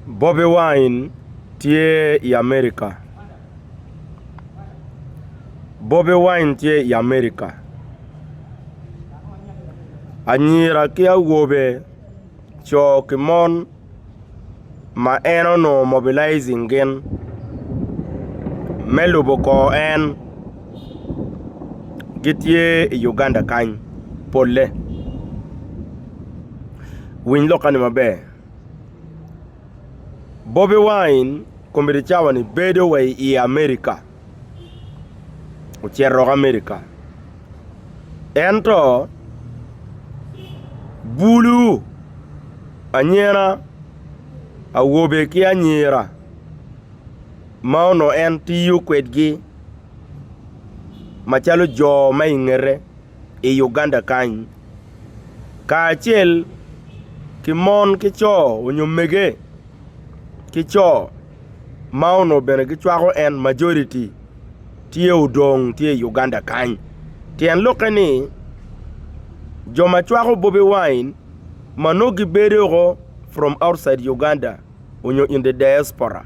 Bobi Wine tye i Amerika Bobi Wine tye i Amerika Anyira ki awobe, co ki mon ma en onongo mobilizing gin me lubo kor en. gitye i Uganda kany polle winy lok kani maber Bobi wine komedi cawa ni bedo wa i America ocito woko America ento bulu anyena awobe ki anyira ma onongo en tiyo kwedgi macalo jo ma i ngete i Uganda kany kacel ki mon ki co nyo mege ki co ma onongo bene gicwako en majority tye odong tye i Uganda kany tyen lokke ni jo ma cwako Bobi Wine ma nongo gibedo woko from outside Uganda nyo in the diaspora.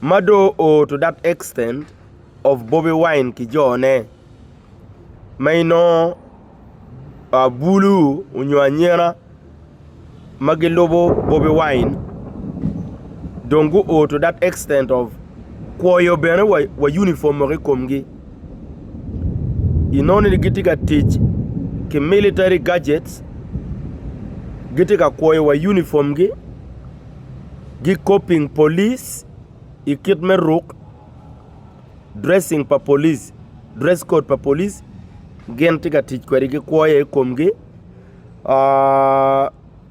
ma do o to that extent of Bobi Wine ki jo ne ma inongo bulu nyo anyena ma gilubo Bobi Wine dong gu o to that extent of kwoyo bene wa uniform woko i kom gi inongo ni gitye ka tic ki military gadgets gitye ka kwoyo wa uniform gi. gikoping polic i kit me ruk, dressing pa polic, dress code pa polic gin tye ka tic kwede ki kwo aye i komgi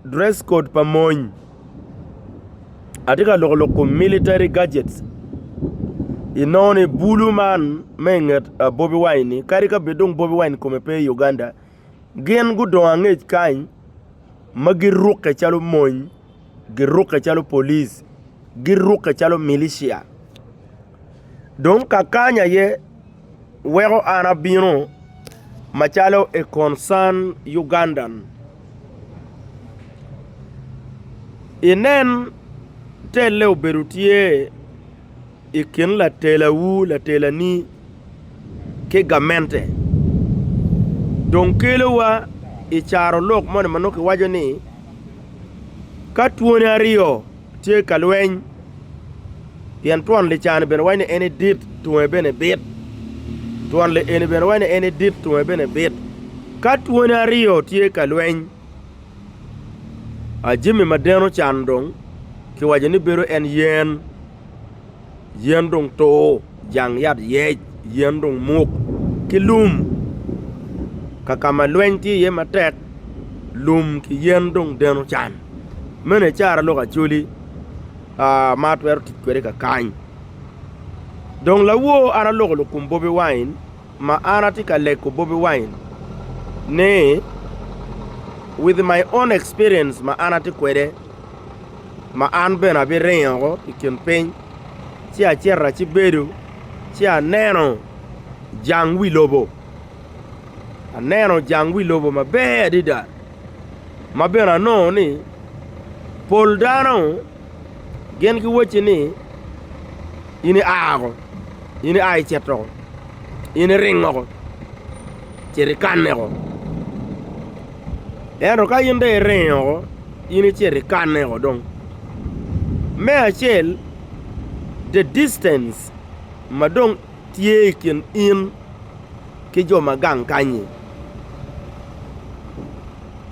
dress code pa mony atye ka loko lok kom military gadgets inongo ni bulu man ma inget Bobi Wine-ni kadi ka bed dong Bobi Wine kome pe i Uganda Gin gudong angec kany ma girukke calo mony, girukke calo police, girukke calo milicia. Dong ka kany aye weko an abino macalo a concerned Ugandan. Inen telle obedo tye. i kin latelawu, latelani, ki gamente dong kelowa i carolok moni ma nongo kiwaco ni ka twone aryo tye ka lweny, pien twon lica-ni bene wacci ni en ni dit, tunge bene bit, twon lieni bene wacci ni en ni dit, tunge bene bit. Ka twone aryo tye ka lweny, a jami ma deno cano dong kiwaco ni bedo en yen. yen dong tur, jang yat yec, yen dong muk ki lum ka ka ma lweny tye iye matek lum ki yen dong deno can meno icara lok Acholi ma atwero tic kwede kakany dong lawo an aloko lukum bobi wine. Ma an atye ka leko Bobi Wine ni with my own experience ma an atye kwede ma an bene abiringo i kin piny ci acito acibedo ci aneno jang wi lobo, aneno jang wi lobo maber adada ma bene anongo ni pol dano Gin giwacci ni, 'In ia oko, in ia icit oko, in iring oko, cit ikanne oko. Ento ka in dong iringo oko, in icit ikanne oko dong. Me acel, the distance ma dong tye i kin in ki jo ma gang kany-nyi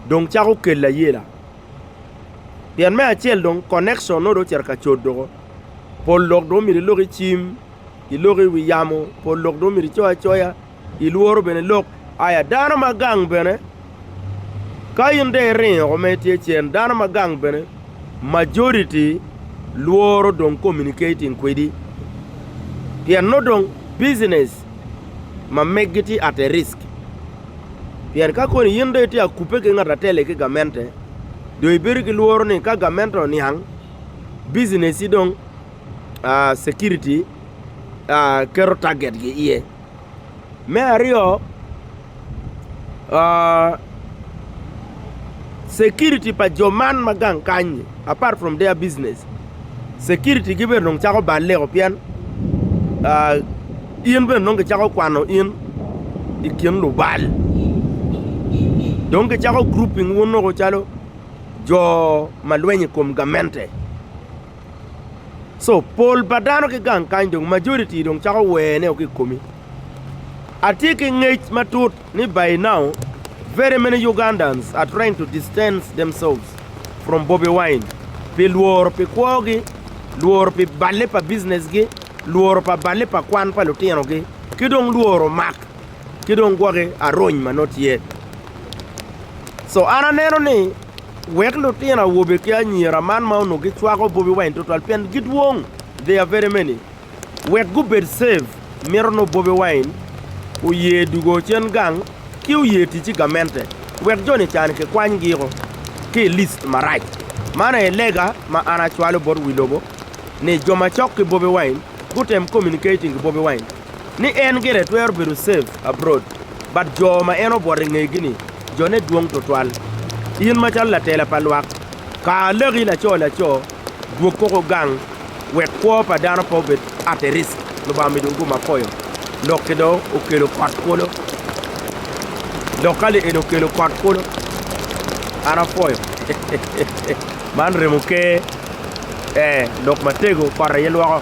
dong cako keli ayela. Pien me acel dong connection nongo dong ocito ka cut doko. Pol lok dong myero ilok i cim, ilok i wi yamo, pol lok dong myero icoyo acoya, ilworo bene lok. Aya dano ma gang bene, ka in dong iringo woko ma itye cen, dano ma gang bene majority lworo dong communicating kwedi. Pien nongo dong business ma megi tye at a risk. Pien ka koni in dong itye ka kubbe ki ngat atele ki gamente, dong ibedo ki lworo ni ka gamente oniang, bicineci dong security keto target-gi iye. Me aryo Security pa jo man ma gang kany ni apart from their business security gi bene dong cako balle o pien in bene nongo gicako kwano in i kin lubal dong gicako grouping wun nongo calo jo ma lweny i kom gamente so pol pa dano ki gang kany dong majority dong cako wene o ki i komi. Atye ki ngec matut ni by now very many Ugandans are trying to distance themselves from Bobi Wine pi lworo pi kwogi, lworo pi balle pa businessgi, lworo pa balle pa kwan pa lutinogi ki dong lworo mak ki dong gwoki arony ma nongo tye. So an aneno ni wek lutino awobe ki anyira man ma onongo gicwako Bobi Wine tutwal pien gidwong, they are very many. Wek gubed safe, mito nongo Bobi Wine oye dugo cen gang ki oye tic ki gamente wek joni cani kikwanygiko ki i list marac. Man aye lega ma an acwalo bot wi lobo ni jo macok ki Bobi Wine gutem communicating ki Bobi Wine ni en gire twero bedo safe abroad but jo ma en obwot i ngegi ni jone dwong twatwal. In macalo latela pa lwak, kar laki laco laco dwog koko gang. wek kwo pa dano pe obed at risk, Lubanga omidogi gum apoyo, dok ki dong okelo kot kulu, dok ka lieni okelo kot kulu, an apoyo. Man remo ker, ee, lok matego, kot aye lwoko.